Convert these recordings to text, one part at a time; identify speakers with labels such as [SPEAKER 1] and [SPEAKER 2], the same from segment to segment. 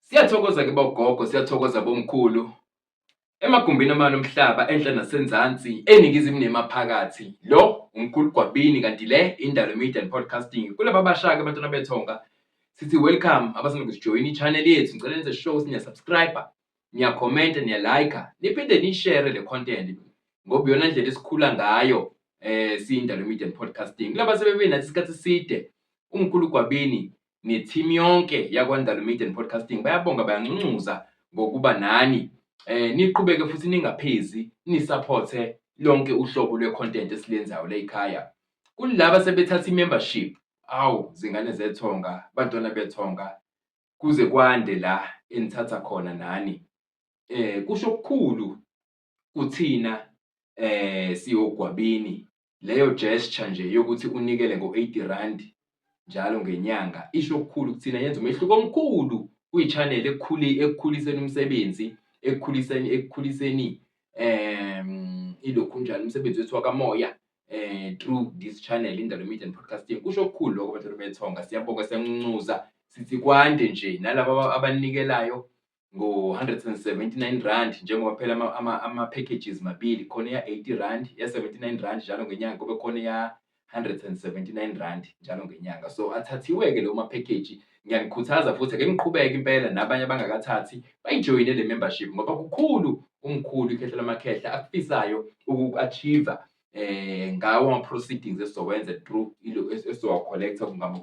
[SPEAKER 1] Siyathokoza ke bogogo, siyathokoza bomkhulu. Emagumbini amane omhlaba enhla nasenzansi eningizimu nemaphakathi. Lo umkhulu Gwabini kanti le indalo media and podcasting. Kulaba bashaka abantwana bethonga sithi welcome abasanda kusijoyina i-channel yethu. Ngicela nenze show sinya subscriber, niya comment, niya like, niphinde ni share le content ngoba iyona ndlela esikhula ngayo eh siyindalo media and podcasting. Kulaba sebebenathi isikhathi side umkhulu Gwabini ne-team yonke yakwaNdalo Media and Podcasting bayabonga bayancuncunza ngokuba nani eh niqhubeke futhi ningaphezi nisupporte lonke uhlobo lwe-content esilenzayo layikhaya kulaba sebethatha i-membership awu zingane zethonga bantwana bethonga kuze kwande la enithatha khona nani eh kusho okukhulu kuthina eh siyogwabini leyo gesture nje yokuthi unikele ngo-80 rand njalo ngenyanga isho okukhulu kuthina yenza umehluko omkhulu kwi-channel ekukhuli ekukhuliseni umsebenzi ekukhuliseni ekukhuliseni um ilokhu njalo umsebenzi wethu wakamoya eh through this channel indalo media and podcasting kusho okukhulu lokho bantwana bethonga siyabonga siyancuza sithi kwande nje nalabo abanikelayo ngo-179 rand njengoba phela ama-packages ama, ama mabili khona eya-80 rand ya-79 rand njalo ngenyanga kube khona eya-179 rand njalo ngenyanga so athathiwe-ke leyo maphekheji ngiyanikhuthaza futhi ake ngiqhubeke impela nabanye abangakathathi bayijoyine le membership ngoba kukhulu umkhulu ikhehla lamakhehla akufisayo uku-achieve eh ngawo ama proceedings esizowenza through ilo esizowa collector ngama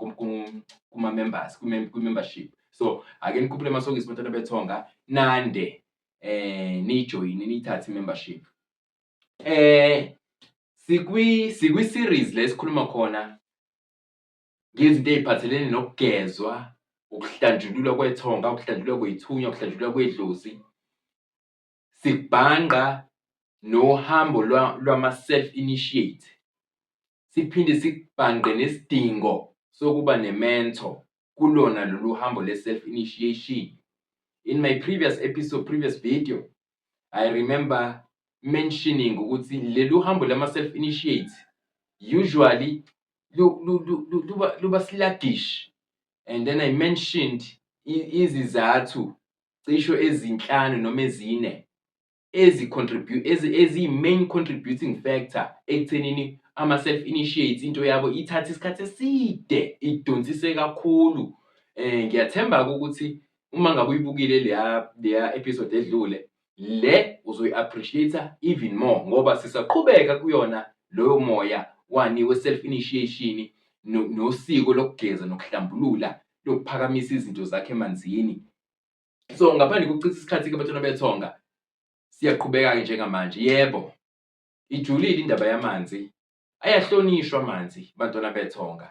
[SPEAKER 1] kuma members ku membership so ake nikhuphule amasokisi bantwana bethonga nande eh nijoin nithathe membership eh sikwi sikwi series lesikhuluma khona ngezinto eziphathelene nokugezwa ukuhlanjululwa kwethonga ukuhlanjululwa kwethunya ukuhlanjululwa kwedlozi Sibhangqa nohambo lwama-self-initiate, siphinde sibhangqe nesidingo sokuba ne-mentor kulona lolu hambo le-self-initiation. In my previous episode, previous video, I remember mentioning ukuthi lelu hambo lama-self-initiate usually luba sluggish and then I mentioned izizathu cisho ezinhlanu noma ezine eziyi-main contributing factor ekuthenini ama-self initiates into yabo ithathe isikhathi eside idonsise kakhulu um ngiyathemba-ke ukuthi uma ngabe uyibukile leya leya episode edlule le uzoyi-appreciate-a even more ngoba sisaqhubeka kuyona loyo moya wani we-self initiation nosiko lokugeza nokuhlambulula lokuphakamisa izinto zakhe emanzini so ngaphandle kokuchitha isikhathi ke bathona bethonga siyaqhubeka-ke njengamanje yebo ijulile indaba yamanzi ayahlonishwa amanzi bantwana bethonga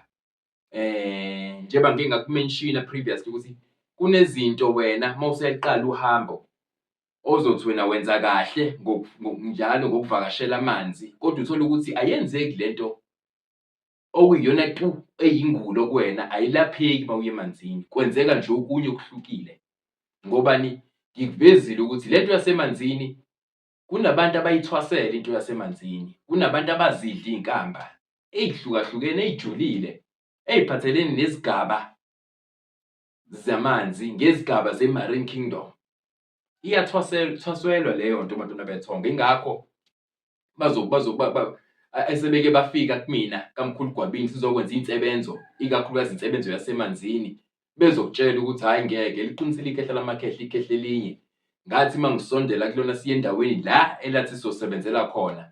[SPEAKER 1] eh njengoba ngike ngakumenshina previously ukuthi kunezinto wena uma useqala uhambo ozothi wena wenza kahle njalo ngokuvakashela amanzi kodwa uthole ukuthi ayenzeki lento okuyiyona tu eyingulo kuwena ayilapheki uma uye emanzini kwenzeka nje okunye okuhlukile ngobani ngikuvezile ukuthi lento yasemanzini kunabantu abayithwasela into yasemanzini kunabantu abazidla izinkamba ezihlukahlukene ezijulile eziphathelene nezigaba zamanzi ngezigaba zemarine kingdom iyathwaswelwa leyo nto madoda bethonga ingakho esebeke bafika kumina kamkhulu gwabini sizokwenza insebenzo ikakhulukazi insebenzo yasemanzini bezokutshela ukuthi hhayi ngeke liqinisile ikhehla lamakhehla ikhehla elinye ngathi uma ngisondela kulona siye endaweni la elathi sizosebenzela khona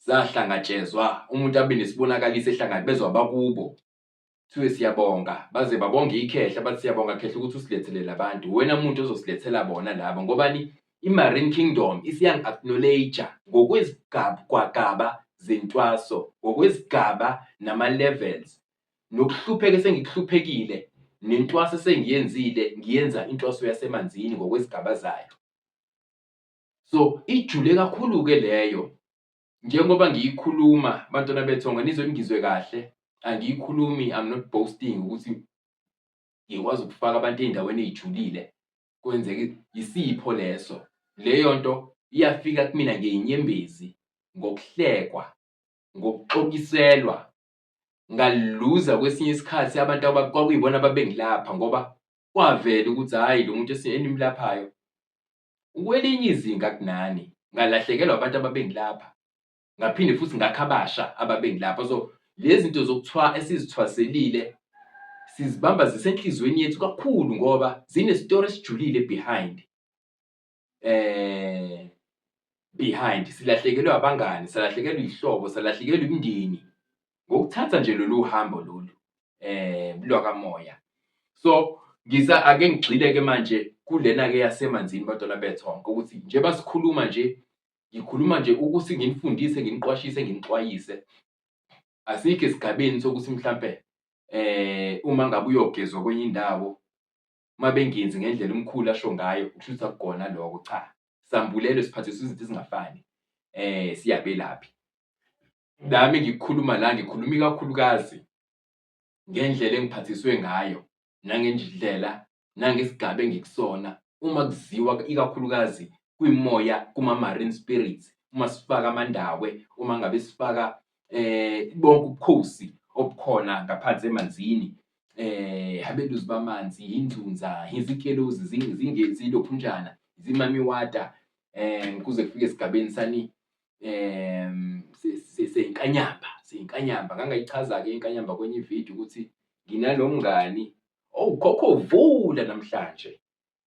[SPEAKER 1] zahlangatshezwa umuntu abe nesibonakaliso ehlangabezwa bakubo Kuthiwe siyabonga baze babonge ikhehla bathi siyabonga khehla ukuthi usilethelele abantu. Wena muntu ozosilethela bona laba ngobani i-Marine Kingdom isiyangi-acknowledge ngokwezigaba zentwaso, ngokwezigaba nama-levels nokuhlupheka esengikuhluphekile nentwaso esengiyenzile ngiyenza intwaso yasemanzini ngokwezigaba zayo. So ijule kakhulu-ke leyo njengoba ngiyikhuluma bantwana bethonga nizwe ningizwe kahle angiyikhulumi i'm not boasting ukuthi ngikwazi ukufaka abantu ey'ndaweni ey'julile kwenzeke yisipho leso leyo nto iyafika kumina ngeyinyembezi ngokuhlekwa ngokuxokiselwa ngaluza kwesinye isikhathi abantu kwakuyibona ababengilapha ngoba kwavela ukuthi hhayi lo muntu enimlaphayo Ukwelinye izinga kunani, ngalahlekelwa abantu ababengilapha, ngaphinde futhi ngakha abasha ababengilapha. So lezi zinto zokuthiwa esizithwaselile sizibamba zisenhliziyweni yethu kakhulu ngoba zinestori esijulile behind eh behind silahlekelwe abangani salahlekelwe izihlobo salahlekelwe imindeni ngokuthatha nje lolu hambo lolu eh lwakamoya so ngiza ake ngigxile ke manje kulena ke yasemanzini badala bethonke ukuthi nje basikhuluma nje ngikhuluma nje ukuthi nginifundise nginiqwashise nginixwayise asikho esigabeni sokuthi mhlampe eh uma ngabe uyogezwa kwenye indawo mabengenzi ngendlela umkhulu asho ngayo ushutha kugona lokho cha sambulelo siphathisa izinto ezingafani eh siyabelaphi nami ngikhuluma la ngikhuluma ikakhulukazi ngendlela engiphathiswe ngayo nangendlela nangesigaba engikusona uma kuziwa ikakhulukazi kwimoya kuma-marine spirits uma sifaka amandawe uma ngabe sifaka eh bonke ubukhosi obukhona ngaphansi emanzini eh abeluzi bamanzi inzunza izikelozi zingezilophunjana zimamiwata eh kuze kufike esigabeni sani um seyinkanyamba seyinkanyamba ngangayichaza-ke inkanyamba kwenye ividiyo ukuthi nginalo mngani owukhokho oh, vula namhlanje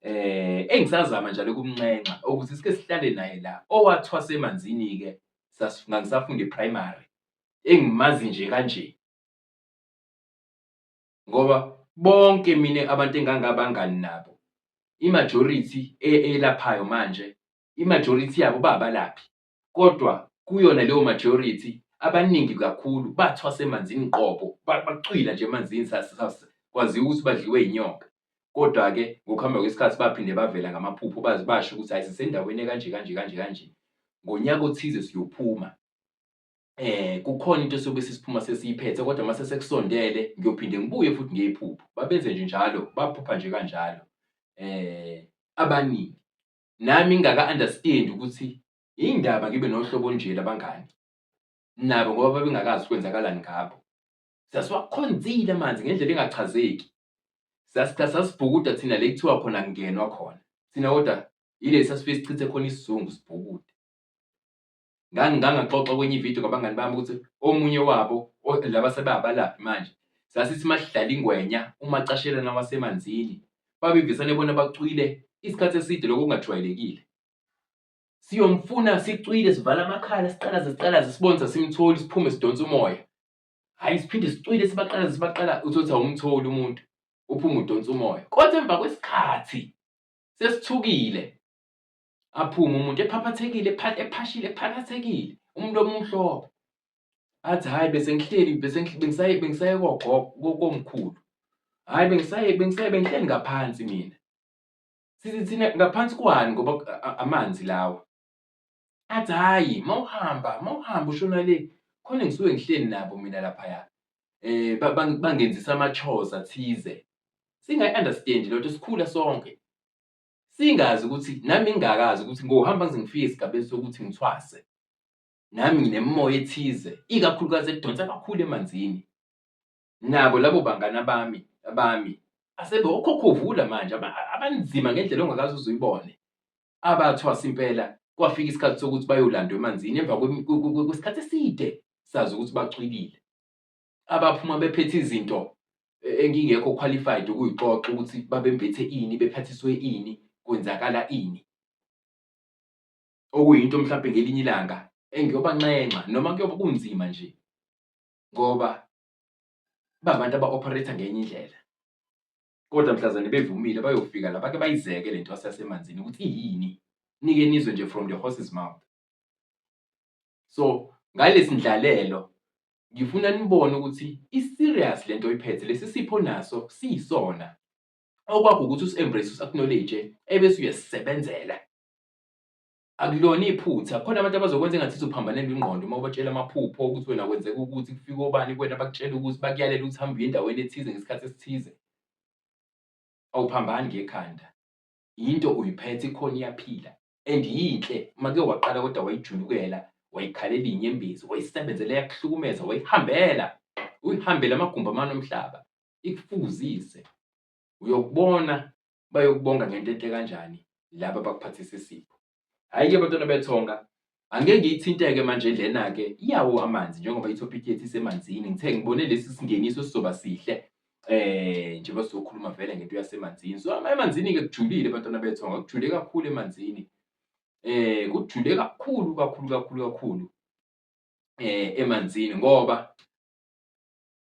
[SPEAKER 1] eh engisazama njalo ukumnxenxa ukuthi sike sihlale naye la owathwasa emanzini-ke ngangisafunda iprimary engimazi nje kanje ngoba bonke mina abantu engangabangani nabo imajority e-, elaphayo manje imajority yabo babalaphi kodwa kuyona leyo majority abaningi kakhulu bathwasa emanzini qobo bacwila nje emanzini kwaziwa ukuthi badliwe inyoka kodwa-ke ngokuhamba kwesikhathi baphinde bavela ngamaphupho bazi basho ukuthi hayi sisendaweni ekanje kanje kanje kanje ngonyaka othize siyophuma eh kukhona into sobe sisiphuma sesiyiphethe kodwa mase sekusondele ngiyophinde ngibuye futhi ngiyiphupho babenze nje njalo baphupha nje kanjalo eh abaningi nami ngingaka understand ukuthi indaba ngibe nohlobo nje labangani nabo ngoba babengakazi kwenzakalani ngabo sasiwakhonzile amanzi ngendlela engachazeki sasitha sasibhukuda thina le kuthiwa khona kungenwa khona thina kodwa yile sasifike sichithe khona isizungu sibhukude ngangingangaxoxa kwenye ividiyo ngabangani bami ukuthi omunye wabo laba sebabalaphi manje sasithi uma sidlala ingwenya uma cashelana wasemanzini babevisane bona bacwile isikhathi eside lokho kungajwayelekile siyomfuna sicwile sivala amakhala siqalaze siqalaze sibone sasimtholi siphume sidonsa umoya hhayi siphinde sicwile sibaqalaze sibaqala uthothi awumtholi umuntu uphume udonsa umoya kodwa emva kwesikhathi sesithukile aphume umuntu ephaphathekile ephashile ephakathekile umuntu omumhlophe athi hhayi bese ngihleli bese bengisaye bengisaye kogogo komkhulu hhayi bengisaye bengisaye bengihleli ngaphansi mina sithi thina ngaphansi kwani ngoba amanzi lawa athi hhayi uma uhamba uma uhamba ushona le khona ngisuke ngihleli nabo mina laphaya eh bangenzisa ama-chores athize singayi-understand lento sikhula sonke singazi ukuthi nami ngingakazi ukuthi ngohamba ngize ngifike esigabeni sokuthi ngithwase nami nginemimoya ethize ikakhulukazi edonsa kakhulu emanzini nabo labo bangana bami abami asebe okhokhovula manje abanzima ngendlela ongakaze uzuyibone abathwasa impela kwafika isikhathi sokuthi bayolandwa emanzini emva kwesikhathi eside sazi ukuthi bacwilile abaphuma bephethe izinto e, engingekho qualified ukuyixoxa ukuthi babembethe ini bephathiswe ini kwenzakala ini okuyinto mhlawumbe ngelinye ilanga engiyobanxenxa noma kuyoba kunzima nje ngoba babantu aba-operator ngenye indlela kodwa mhlazane bevumile bayofika la bake bayizeke le nto yasemanzini ukuthi iyini nike nizwe nje from the horse's mouth so ngalesi ndlalelo ngifuna nibone ukuthi i-serious lento oyiphethe lesi sipho naso siyisona okwakho ukuthi usi-embrace usi-acknowledge ebese uyasisebenzela akulona iphutha khona abantu abazokwenza engathi izophambanelwa ingqondo uma ubatshela amaphupho ukuthi wena kwenzeka ukuthi kufike obani kuwena bakutshela ukuthi bakuyalela ukuthi hambe uye endaweni ethize ngesikhathi esithize awuphambani ngekhanda yinto uyiphethe ikhona iyaphila and yinhle uma ke waqala kodwa wayijulukela wayikhalela inyembezi wayisebenzela yakuhlukumeza wayihambela uyihambele amagumbi amane omhlaba ikufuzise uyokubona bayokubonga ngento enhle kanjani laba bakuphathisa isipho Hhayi-ke bantwana bethonga, angeke ngiyithinte-ke manje lena-ke iyawo amanzi njengoba ithophikhi yethu isemanzini. Ngithe ngibone lesi singeniso sizoba sihle eh njengoba sizokhuluma vele ngento yasemanzini. So emanzini-ke kujulile bantwana bethonga, kujule kakhulu emanzini. Eh kujule kakhulu kakhulu kakhulu kakhulu eh emanzini ngoba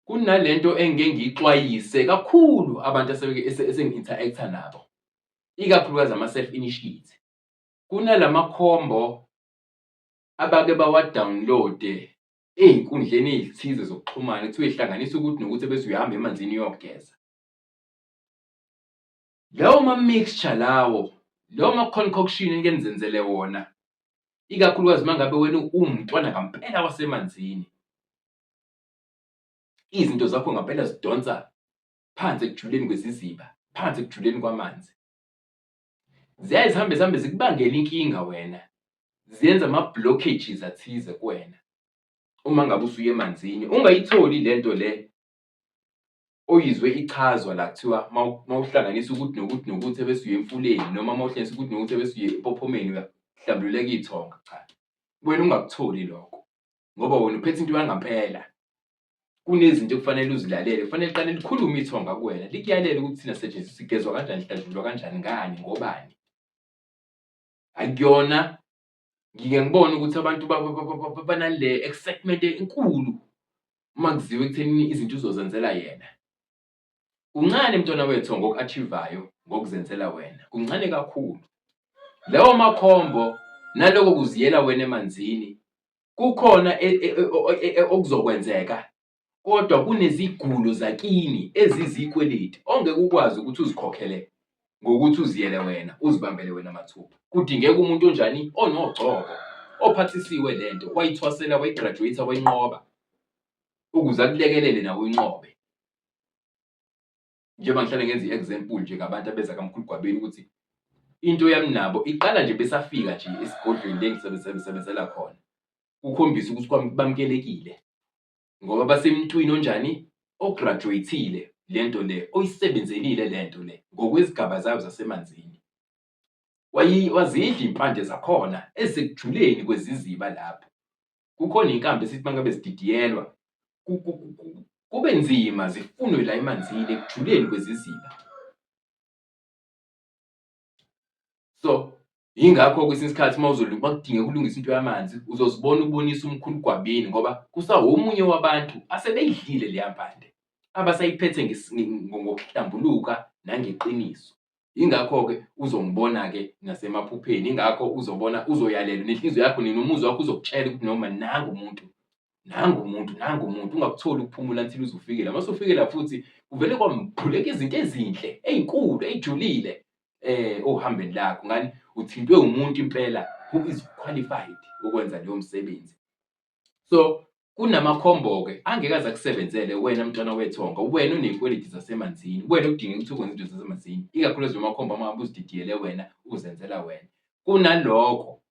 [SPEAKER 1] kunalento engike ngiyixwayise kakhulu abantu esenginteract-a nabo ikakhulukazi ama-self initiate kunalamakhombo abake bawa-download-e ey'nkundleni ey'thize zokuxhumana kuthiwa ihlanganisa ukuthi nokuthi bese uyahamba emanzini uyogeza lawo ma-mixture lawo lawo ma-concoction enike nizenzele wona ikakhulukazi uma ngabe wena uwumntwana ngampela wasemanzini izinto zakho ngampela zidonsa phansi ekujuleni kweziziba phansi ekujuleni kwamanzi ziyaye zihambe zihambe zikubangela inkinga wena ziyenza ama-blockages athize kuwena uma ngabe usuye emanzini ungayitholi le nto le oyizwe ichazwa la kuthiwa mawuhlanganisa ukuthi nokuthi nokuthi ebesuye emfuleni noma mawuhlanganisa ukuthi nokuthi ebesuye empophomeni uyahlambululeka iy'thonga cha wena ungakutholi lokho ngoba wena uphethe into yangampela kunezinto ekufanele uzilalele kufanele qale likhulume ithonga kuwena likuyalele ukuthi thina setshenziswa sigezwa kanjani sihlajulwa kanjani ngani ngobani akuyona ngike ngibone ukuthi abantu banale excitement enkulu uma kuziwe ekutheni izinto uzozenzela yena Kuncane mntwana wethu ngoku-achivayo ngokuzenzela wena, kuncane kakhulu. Lawo makhombo naloko kuziyela wena emanzini kukhona e, e, e, okuzokwenzeka kodwa kunezigulo zakini ezizikweleti ongeke ukwazi ukuthi uzikhokhele ngokuthi uziyele wena uzibambele wena mathuba kudingeka umuntu onjani onogcobo ophathisiwe lento wayithwasela wayigraduate wayinqoba ukuze akulekelele nawe uyinqobe njengoba ngihlale ngenza i-example nje ngabantu abeza kamkhulu gwabeni ukuthi into yami nabo iqala nje besafika nje esigodlweni lengisebenzela khona kukhombisa ukuthi bamkelekile ngoba basemntwini onjani ograduate-ile le nto le oyisebenzelile le nto le ngokwezigaba zayo zasemanzini wazidla impande zakhona ezekujuleni kweziziba lapho kukhona inkambi esithi mangabe zididiyelwa kube nzima zifunwe la emanzini ekujuleni kweziziba so yingakho kwesinye isikhathi uma uzolima kudinge kulungisa into yamanzi uzozibona ubonisa umkhulu gwabini ngoba kusawomunye wabantu asebeyidlile leya mpande abasayiphethe ngokuhlambuluka nangeqiniso ingakho-ke uzongibona-ke nasemaphupheni ingakho uzobona uzoyalelwa nenhliziyo yakho nini umuzwa wakho uzokutshela ukuthi noma nangu umuntu nangu umuntu nangu umuntu ungakutholi ukuphumula until uzufikela uma usufikela futhi kuvele kwamphuleka izinto ezinhle ey'nkulu ey'julile eh ohambeni lakho ngani uthintwe umuntu impela who is qualified ukwenza leyo msebenzi so kunamakhombo-ke angeke aze akusebenzele wena mntwana wethonga wena uney'kweleti zasemanzini wena udinga ukuthi ukwenza izinto zasemanzini ikakhulukazi nomakhombo amahambe uzididiyele wena uzenzela wena kunalokho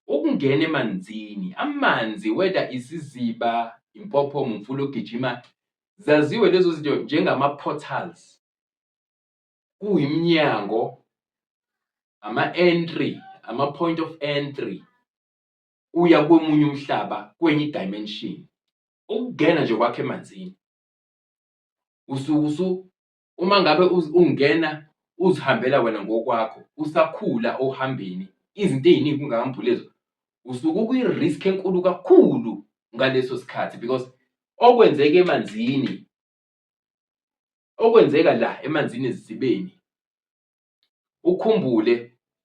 [SPEAKER 1] ukungena emanzini amanzi whether isiziba impophomo umfula ogijima zaziwe lezo zinto njengama-portals kuyimnyango ama-entry ama-point of entry uya komunye umhlaba kwenye dimension ukungena nje kwakhe emanzini usukusu uma ngabe ungena uzihambela wena ngokwakho usakhula ohambeni izinto eziningi kungakambhulezo usuke ukwi-risk enkulu kakhulu ngaleso sikhathi because okwenzeka emanzini okwenzeka la emanzini ezidibeni ukhumbule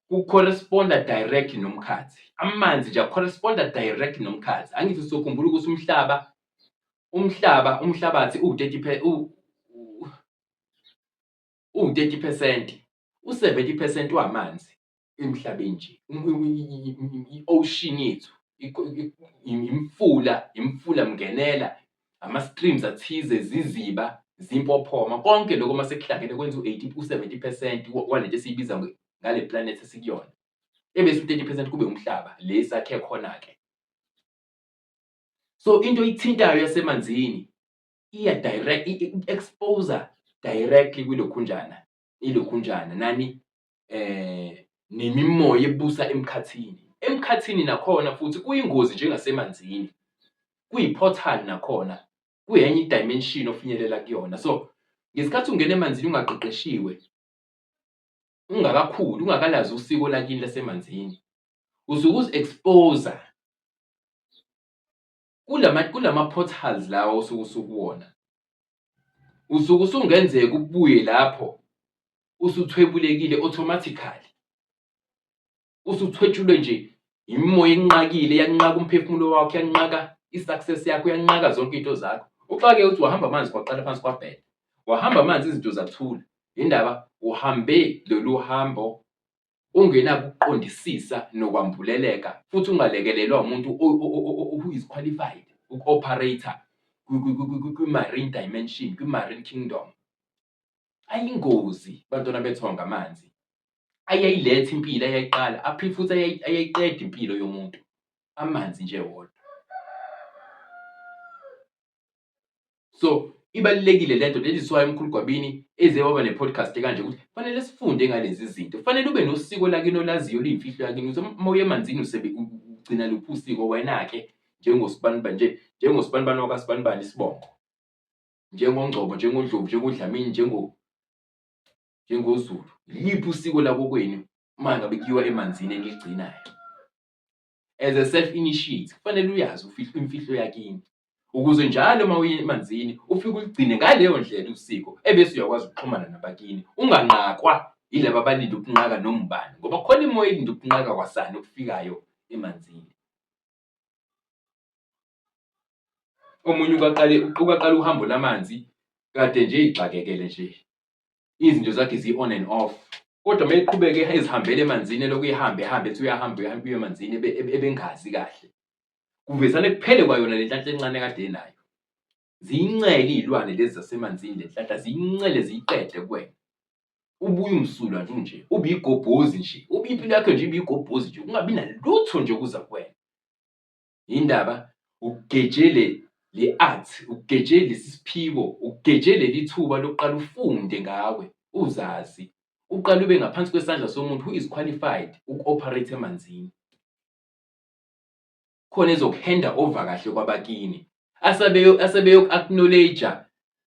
[SPEAKER 1] ku-corresponda direct nomkhathi amanzi nje a-corresponda direct nomkhathi angithi sokhumbula ukuthi umhlaba umhlaba umhlabathi uwu-30 uwu-30 percent u-70 percent wamanzi emhlabeni nje i-ocean yethu imfula imfula mngenela ama-streams athize ziziba zimpophoma konke lokho uma sekuhlangene kwenza u-80 u-70 percent walento esiyibiza ngale planet esikuyona ebese u-30 percent kube umhlaba le sakhe khona-ke so into ithintayo yasemanzini iya direct i-exposer directly kwilokhunjana ilokhunjana nani eh nemimoya ebusa emkhathini emkhathini nakhona futhi kuyingozi njengasemanzini kuyiportal nakhona kuyenye idimension ofinyelela kuyona so ngesikhathi ungena emanzini ungaqeqeshiwe ungakakhuli ungakalazi usiko lakini lasemanzini usuke uzi-expose kulama kulama portals lawa osuke usukuwona usuke usungenzeka ubuye lapho usuthwebulekile automatically usuthwetshulwe nje imimoya enqakile yanqaka umphefumulo wakho yanqaka i-success yakho yanqaka zonke into zakho uxake uthi wahamba amanzi kwaqala phansi kwabhela wahamba amanzi izinto zathula indaba uhambe lolu hambo ungenakuqondisisa nokwambuleleka futhi ungalekelelwa umuntu who is qualified uku-operator kwi-marine dimension kwi-marine kingdom ayingozi bantwana bethonga amanzi ayayiletha impilo ayayiqala aphi futhi ayayiqeda impilo yomuntu amanzi nje wodwa so ibalulekile le nto that is why umkhulu gwabini eze waba ne-podcast kanje ukuthi fanele sifunde ngalezi zinto fanele ube nosiko lakini olaziyo oluyimfihlo yakini ukuthi uma uye emanzini ugcina luphi usiko wena-ke njengosibanibani nje njengosibanibani wakasibanibani isibongo njengongcobo njengodlovu njengodlamini njengo njengozulu liphi usiko lakokwenu uma ngabe kuyiwa emanzini eligcinayo as a self initiate kufanele uyazi ufihlo imfihlo yakini ukuze njalo uma uye emanzini ufike uligcine ngaleyo ndlela usiko ebese uyakwazi ukuxhumana nabakini unganqakwa yilaba abalinde ukunqaka noma ubani ngoba khona imoya elinde ukunqaka kwasani okufikayo emanzini omunye ukaqale uqale uhambo lamanzi kade nje igxakekele nje izinto zakhe zi-on and off kodwa uma eqhubeke ezihambele emanzini elokhu ehambe ehambe ethi uyahamba uyahamba uye emanzini ebengazi kahle kuvesane kuphele kwayona le nhlahla encane kade enayo ziyincele iy'lwane lezi zasemanzini le nhlahla ziyincele ziyiqede kuwena ubuye umsulwa nje unje ube igobhozi nje ube impilo yakho nje ibe igobhozi nje kungabi nalutho nje okuza kuwena yindaba ugeje le le art ugeje lesi siphiwo ugeje leli thuba lokuqala ufunde ngawe uzazi uqale ube ngaphansi kwesandla somuntu who is qualified uku-operate emanzini khona ezokuhenda over kahle kwabakini asebeyoku-acknowledge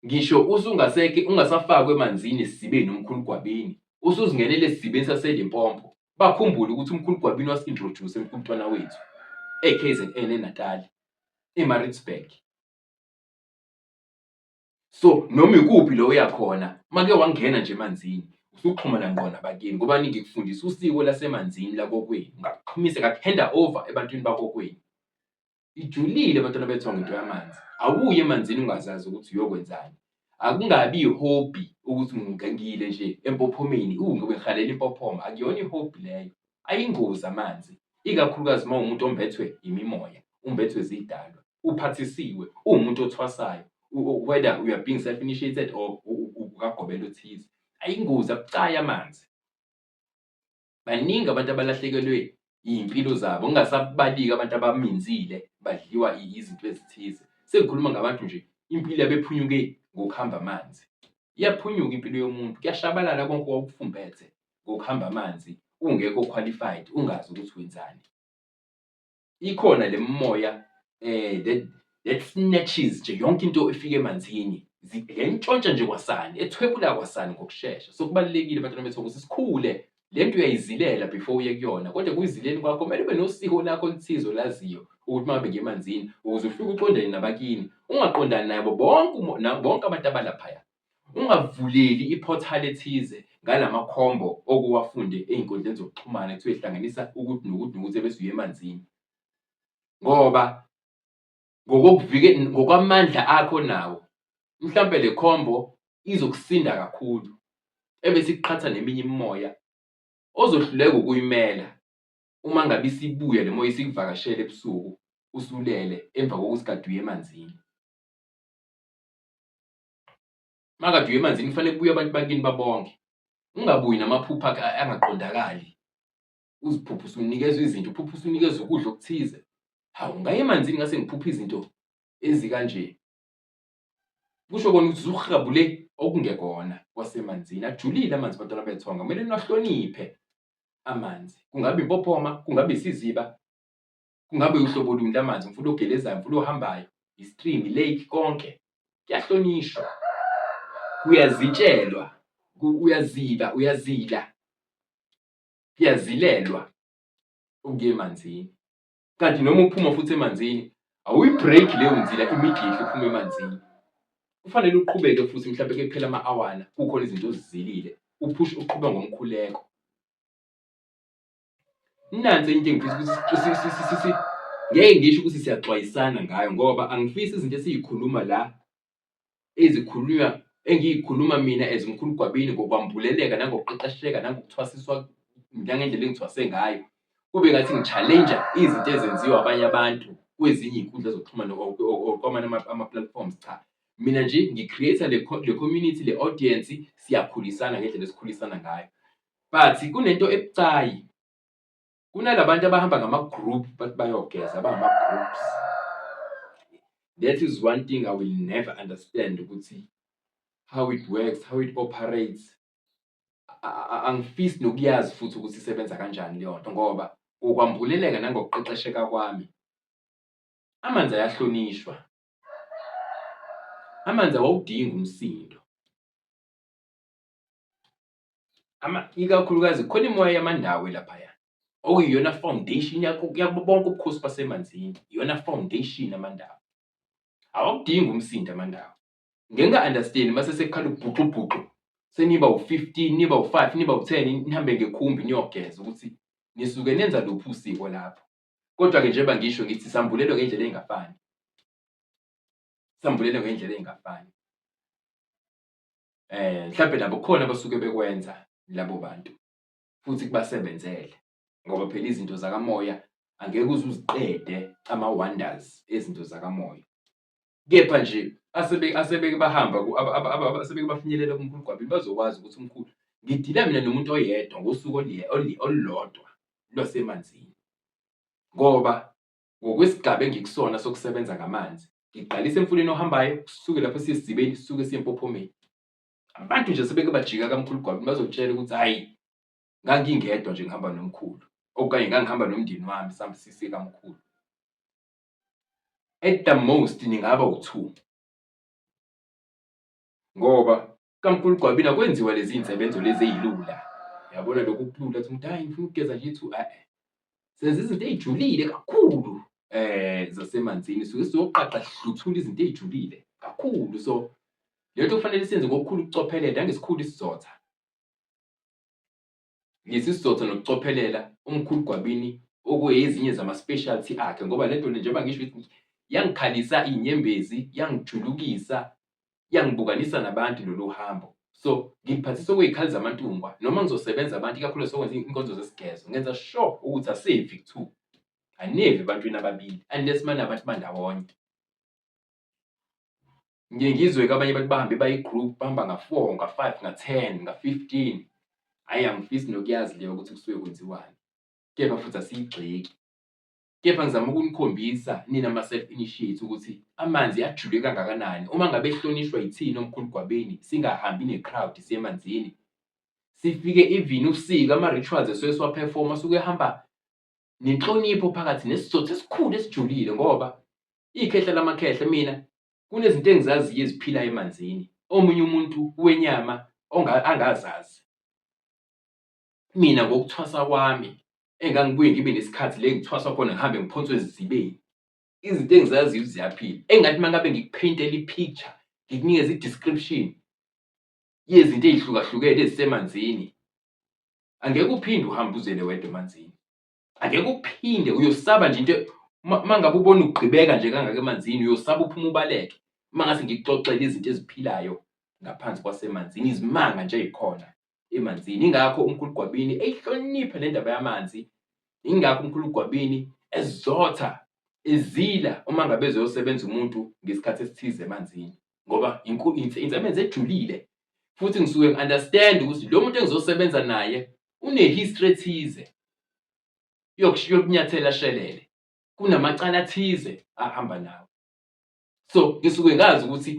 [SPEAKER 1] ngisho usungaseke ungasafakwe emanzini esizibeni omkhulu gwabeni usuzingenele esizibeni saselimpompo bakhumbule ukuthi umkhulu Gwabini wasi-introduce emkhumntwana wethu e-KZN eNatali eMaritzburg so noma ikuphi lo uyakhona make wangena nje emanzini usuxhumana ngqo nabakini ngoba ningikufundisa usiko lasemanzini lakokwenu ngakuxhumise ngakuhanda over ebantwini bakokwenu Ijulile bantwana bethu ngento yamanzi. Awuye emanzini ungazazi ukuthi uyokwenzani. Akungabi ihobby ukuthi ngingangile nje empophomeni, u ngikhalela impophoma, akuyona ihobby leyo. Ayingozi amanzi, ikakhulukazi uma uwumuntu ombethwe imimoya, umbethwe zidalwa, uphathisiwe, uwumuntu othwasayo, whether you are being self initiated or ukagobela othize. Ayingozi, abucayi amanzi. baningi abantu abalahlekelwe iy'mpilo zabo ngingasabaliki abantu abaminzile badliwa izinto ezithize sengikhuluma ngabantu nje impilo yabephunyuke ngokuhamba amanzi iyaphunyuka impilo yomuntu kuyashabalala konke owawukufumbethe ngokuhamba amanzi ungekho qualified ungazi ukuthi wenzani. ikhona le mimoya eh that that snatches nje yonke into efika emanzini ziyayintshontsha nje kwasani ethwebula kwasani ngokushesha so kubalulekile abantwana bethu ukuthi sikhule le nto uyayizilela before uye kuyona kodwa kuyizileni kwakho kumele ube nosiko lakho oluthize olaziyo ukuthi mabe ngemanzini ukuze ufike uqondane nabakini ungaqondani nabo bonke bonke abantu abalaphaya Ungavuleli iphothali ethize ngala makhombo okuwafunde ey'nkundleni zokuxhumana kuthiwe hlanganisa ukuthi nokuthi nokuthi ebese uye emanzini ngoba ngokwamandla akho nawo mhlawumbe le khombo izokusinda kakhulu ebese ikuqhatha neminye imimoya ozohluleka ukuyimela uma ngabe isibuya le moya isikuvakashele ebusuku usulele emva kokuthi kade uye emanzini. makade uye emanzini kufanele kubuye abantu bakini babonke ungabuyi namaphupha akhe angaqondakali uziphupha usunikezwa izinto uphupha usunikezwa ukudla okuthize hawu ngaye emanzini ngase ngiphupha izinto ezikanje kusho kona ukuthi usuhabule okungekona kwasemanzini ajulile amanzi abantwana bethonga kumele niwahloniphe amanzi kungabe impophoma kungabe isiziba kungabe uhlobo luni lamanzi umfula ogelezayo umfula ohambayo istream lake konke kuyahlonishwa kuyazitshelwa uyaziba uyazila kuyazilelwa ukuya emanzini kanti noma uphuma futhi emanzini awuyibreak leyo nzila immediately uphuma emanzini kufanele uqhubeke futhi mhlawumbe ke kuphela ama-awana kukhona izinto ozizilile uphush uqhuba ngomkhuleko Nansi into engifisa ukuthi ngeke ngisho ukuthi siyaxwayisana ngayo ngoba angifisi izinto esiyikhuluma la ezikhulunywa engiyikhuluma mina as umkhulu Gwabini ngokwambuleleka nangokuqeqesheka nangokuthwasiswa nangendlela engithwase ngayo kube ngathi ngi-challenge izinto ezenziwa abanye abantu kwezinye iy'nkundla zokuxhumana kwamanye ama-platforms cha mina nje ngi-create-a le community le audience siyakhulisana ngendlela esikhulisana ngayo but kunento ebucayi kunalabantu abahamba ngama group bathi bayogeza abangama groups that is one thing i will never understand ukuthi how it works how it operates angifisi nokuyazi futhi ukuthi isebenza kanjani leyo nto ngoba ngokwambuleleka nangokuqeqesheka kwami amanzi ayahlonishwa amanzi awawudingi umsindo ikakhulukazi khona imoya yamandawo elaphaya okuyiyona foundation yakho yabo bonke ubukhosi basemanzini iyona foundation amandawo awakudingi umsindo amandawo ngenga understand mase sekukhala ubhuxubhuxu seniba u15 niba u5 niba u10 nihambe ngekhumbi niyogeza ukuthi nisuke nenza luphi usiko lapho kodwa ke njengoba ngisho ngithi sambulelo ngendlela engafani sambulelo ngendlela engafani eh mhlawumbe nabo khona basuke bekwenza labo bantu futhi kubasebenzele ngoba phela izinto zakamoya angeke uze uziqede ama-wonders ezinto zakamoya kepha nje asebeke asebeke bahamba asebeke bafinyelela kumkhulu gwabini bazokwazi ukuthi umkhulu ngidila mina nomuntu oyedwa ngosuku olulodwa lwasemanzini ngoba ngokwesigaba engikusona sokusebenza ngamanzi ngiqalisa emfuleni ohambayo kusuke lapho siyesizibeni sisuke siyempophomeni abantu nje sebeke bajika kamkhulu gwabini bazokutshela ukuthi hhayi ngangingedwa nje ngihamba nomkhulu okanye ngangihamba nomndeni wami sambe sise kamkhulu at the most ningaba u-two ngoba kamkhulu Gwabini akwenziwa lezi insebenzo lezi ezilula yabona lokhu kulula ukuthi umuntu hayi ngifuna ukugeza nje ithu eh senza izinto ezijulile kakhulu eh zasemanzini suke sizoqaqa sihluthula izinto ezijulile kakhulu so lento kufanele senze ngokukhulu ukucophelela ngesikhulu isizotha ngesizotha nokucophelela umkhulu Gwabini okuyezinye zama-specialty akhe ngoba le nto le njengoba ngisho ukuthi yangikhalisa iy'nyembezi yangijulukisa yangibukanisa nabantu lolu hambo so ngiphathisa okuy'khali zamantungwa noma ngizosebenza abantu ikakhulu sokwenza inkonzo zesigezo ngenza sure ukuthi asevi kuthiwa anevi ebantwini ababili unless manabantu bandawonye Ngiye ngizwe ke abanye abantu bahambe bayi-group bahamba nga-four, nga-five, nga-ten, nga-fifteen. Hhayi angifisi nokuyazi leyo ukuthi kusuke kwenziwani, kepha futhi asiyigxeki. Kepha ngizama ukunikhombisa nina ma-self initiate ukuthi amanzi ajule kangakanani. Uma ngabe ehlonishwa yithina omkhulu Gwabeni singahambi ne-crowd siye emanzini. Sifike even usika ama-rituals esuke siwa-perform-a asuke ehamba nenhlonipho phakathi nesizotha esikhulu esijulile ngoba ikhehla lamakhehla mina kunezinto engizaziyo eziphila emanzini omunye umuntu wenyama angazazi mina ngokuthwasa kwami engangibuye ngibe nesikhathi le ngithwasa khona ngihambe ngiphonswe ezizibeni izinto engizaziyo ziyaphila engathi uma ngabe ngikupheyintela i-picture ngikunikeza i-description yezinto ey'hlukahlukene ezisemanzini angeke uphinde uhambe uzele wedwa emanzini angeke uphinde uyosaba nje into uma ngabe ubona ugqibeka nje kangaka emanzini uyosaba uphuma ubaleke uma ngase ngikuxoxele izinto eziphilayo ngaphansi kwasemanzini izimanga nje ezikhona emanzini ingakho umkhulu gwabini eyihloniphe le ndaba yamanzi ingakho umkhulu gwabini ezotha ezila uma ngabe ezoyosebenza umuntu ngesikhathi esithize emanzini ngoba insebenza ejulile futhi ngisuke ngi-understand ukuthi lo muntu engizosebenza naye une-history ethize yokunyathela shelele kunamacala athize ahamba nawo so ngisuke ngazi ukuthi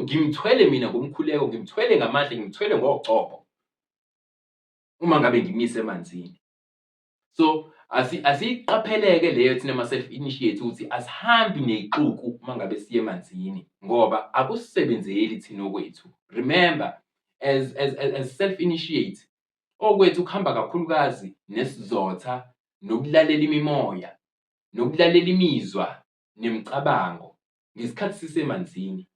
[SPEAKER 1] ngimthwele mina ngomkhuleko ngimthwele ngamandla ngimthwele ngogcobo uma ngabe ngimise emanzini so asiyiqapheleke leyo thina ma-self initiate ukuthi asihambi neyixuku uma ngabe siye emanzini ngoba akusisebenzeli thina okwethu remember as, as, as, as self initiate okwethu kuhamba kakhulukazi nesizotha nokulalela imimoya nokulalela imizwa nemicabango ngesikhathi sisemanzini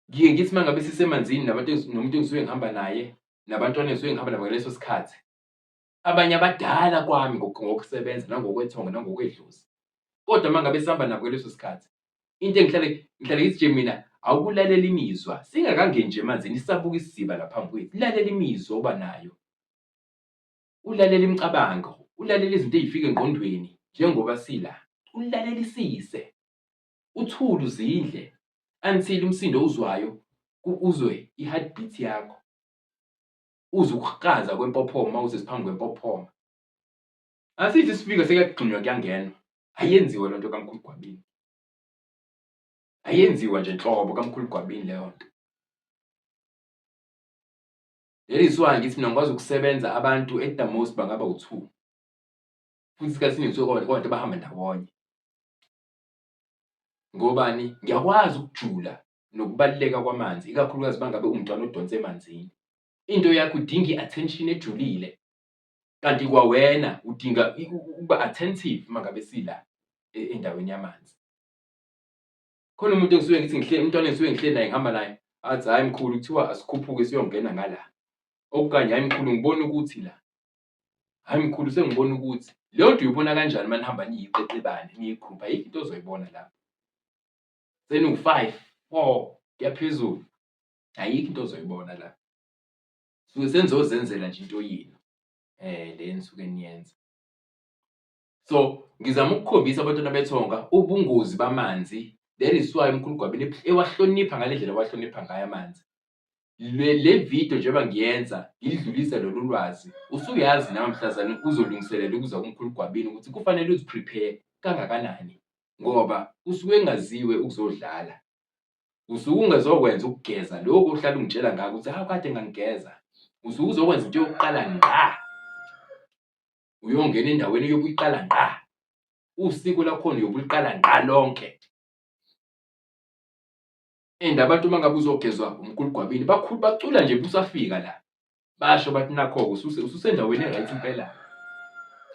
[SPEAKER 1] ngiye ngithi uma ngabe sisemanzini nabantu nomuntu engisuke ngihamba naye nabantwana engisuke ngihamba nabo ngaleso sikhathi abanye abadala kwami ngokusebenza nangokwethonga nangokwedlozi kodwa uma ngabe sihamba nabo ngaleso sikhathi into engihlale ngihlale ngithi nje mina awukulalela imizwa singakangeni nje emanzini isabuka isiziba laphambi kwethu lalela imizwa oba nayo ulalela imicabango ulalela izinto ezifika engqondweni njengoba sila ulalelisise uthule uzindle until umsindo owuzwayo uzwe i-heartbeat yakho, uzwe ukukraza kwempophoma uma usesiphambi kwempophoma. Asithi isifika sekuyagxunywa kuyangenwa, ayenziwe loo nto kaMkhulu Gwabini. Ayenziwa nje nhlobo kaMkhulu Gwabini leyo nto. That is why ngithi mina ngikwazi ukusebenza abantu at the most bangaba u-two futhi isikhathi esiningi kusuke kwabantu abahamba ndawonye. Ngobani? Ngiyakwazi ukujula nokubaluleka kwamanzi, ikakhulukazi uma ngabe umntwana odonsa emanzini. Into yakho udinga i-attention ejulile, kanti kwawena udinga ukuba attentive uma ngabe sila e, endaweni yamanzi. Khona umuntu engisuke ngithi ngihle umntwana engisuke ngihle naye ngihamba naye athi hhayi mkhulu kuthiwa asikhuphuke siyongena ngala. Okukanye hhayi mkhulu ngibona ukuthi la Hayi mkhulu sengibona ukuthi leyo nto uyibona kanjani uma nihamba niyiqeqebane niyigrupha yikho into ozoyibona lapho seniwu-five four kuyaphezulu ayikho into ozoyibona la suke senizozenzela nje into yini um le nisuke niyenza so ngizama ukukhombisa abantwana bethonga ubungozi bamanzi that is why umkhulu gwabini ewahlonipha ngale ndlela wahlonipha ngayo amanzi le le video njengoba ngiyenza ngidlulise lolu lwazi usuyazi nawe mhlazane uzolungiselela ukuza kumkhulu gwabini ukuthi kufanele uziprepare kangakanani ngoba usuke engaziwe ukuzodlala usuke ungezokwenza ukugeza lokho uhlala ungitshela ngako ukuthi hawu kade ngangigeza usuke uzokwenza into yokuqala ngqa uyongena endaweni yokuyiqala ngqa usiko lakhona yokuliqala ngqa lonke and abantu uma ngabe uzogezwa umkhulu gwabini bakhulu bacula nje busafika la basho bathi nakho-ke ususe- ususendaweni e-right impela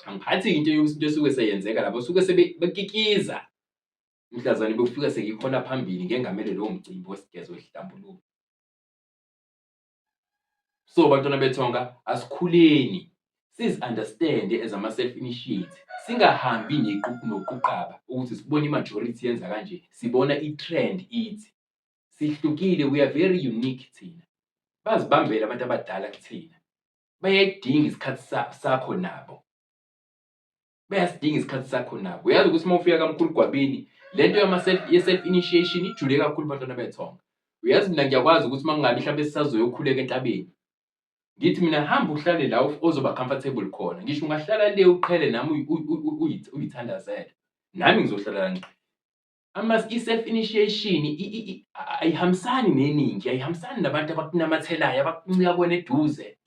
[SPEAKER 1] angiphathi into eyo- into esuke seyenzeka labo suke sebekikiza mhlazane bokufika sengikhona phambili ngengamele lowo mcimbi wesigezo esihlambuluko so bantwana bethonga asikhuleni sizi understand as ama self initiate singahambi neqhubu noquqaba ukuthi sibone imajority yenza kanje sibona itrend ithi sihlukile we are very unique thina bazibambele abantu abadala kuthina bayayidinga isikhathi sakho nabo bayasidinga isikhathi sakho nabo uyazi ukuthi uma ufika kamkhulu gwabini le nto ye-self initiation ijule kakhulu bantwana bethonga uyazi mina ngiyakwazi ukuthi uma kungabi mhlawumbe sisazoyokhuleka entabeni ngithi mina hamba uhlale la ozoba comfortable khona ngisho ungahlala le uqhele nami uyithandazele nami ngizohlala la ngiqhele ama i-self initiation ayihambisani neningi ayihambisani nabantu abakunamathelayo abakuncika kwena eduze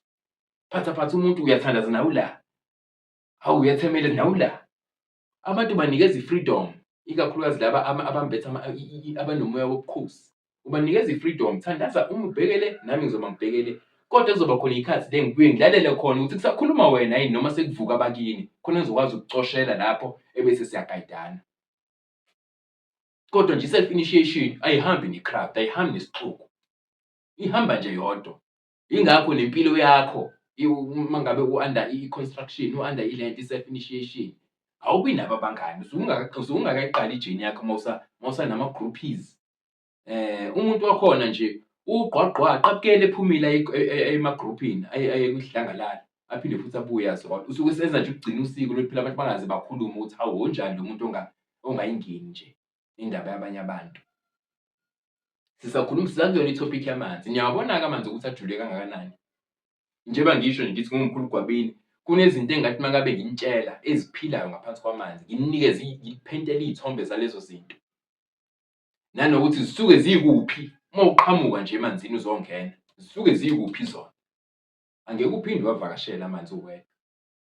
[SPEAKER 1] phatha phatha umuntu uyathandaza nawe la Hawu uyathemela nawu la. Abantu banikeza i-freedom, ikakhulukazi laba abambethe abanomoya wobukhosi. Ubanikeza i-freedom, thandaza uma ubhekele nami ngizoba ngibhekele. Kodwa kuzoba khona ikhathi le ngibuye ngilalele khona ukuthi kusakhuluma wena yini noma sekuvuka abakini khona ngizokwazi ukucoshela lapho ebese siyagayidana. Kodwa nje i-self initiation ayihambi ne-craft, ayihambi nesixuku. Ihamba nje yodwa. ingakho nempilo yakho uma ngabe u-under i-construction u-under i-land i-self initiation awubi nabo abangani usungakayiqali ijeni yakho mawusanama-groupies um eh, umuntu wakhona nje ugqwagqwa aqabukele ephumile ema-groupini aye kudlangalala aphinde futhi abuye azona usuke senza nje ukugcina usiko lokuphila abantu bangaze bakhulume ukuthi hawu wonjani lo muntu ongayingeni nje indaba yabanye abantu. Sisakhuluma sisazi yona i-topic yamanzi. Niyawabona-ke amanzi ukuthi ajule kangakanani. Njengoba ngisho nje ngithi ngingumkhulu Gwabini, kunezinto engathi uma ngabe nginitshela eziphilayo ngaphansi kwamanzi, nginikeze ngiphentele iy'thombe zalezo zinto. Nanokuthi zisuke zikuphi uma uqhamuka nje emanzini uzongena, zisuke zikuphi zona. Angeke uphinde uwavakashele amanzi uwedwa.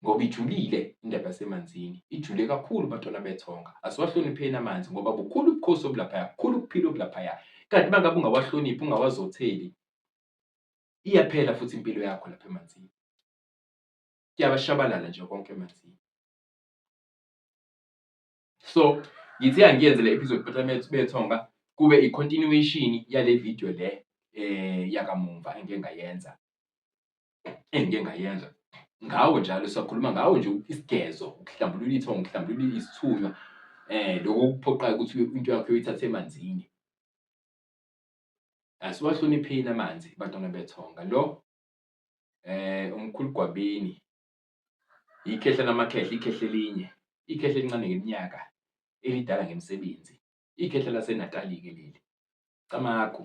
[SPEAKER 1] ngoba ijulile indaba yasemanzini ijule kakhulu bantwana bethonga asiwahlonipheni amanzi ngoba bukhulu ubukhosi obulaphaya bukhulu ukuphila obulaphaya kanti uma ngabe ungawahloniphi ungawazotheli iyaphela futhi impilo yakho lapha emanzini kuyabashabalala nje konke emanzini so ngithi angiyenze le episode bantwana bethonga kube i-continuation yale video le eh yakamumva engike ngayenza engike ngayenza ngawo njalo siyakhuluma ngawo nje isigezo ukuhlambulula ithongo ukuhlambulula isithunywa eh lokho kuphoqayo ukuthi into yakho uyithathe emanzini asiwahlonipheni amanzi bantwana bethonga lo eh umkhulu gwabini ikhehla lamakhehla ikhehla elinye ikhehla elincane ngeminyaka elidala ngemisebenzi ikhehla lasenatali ke leli camagu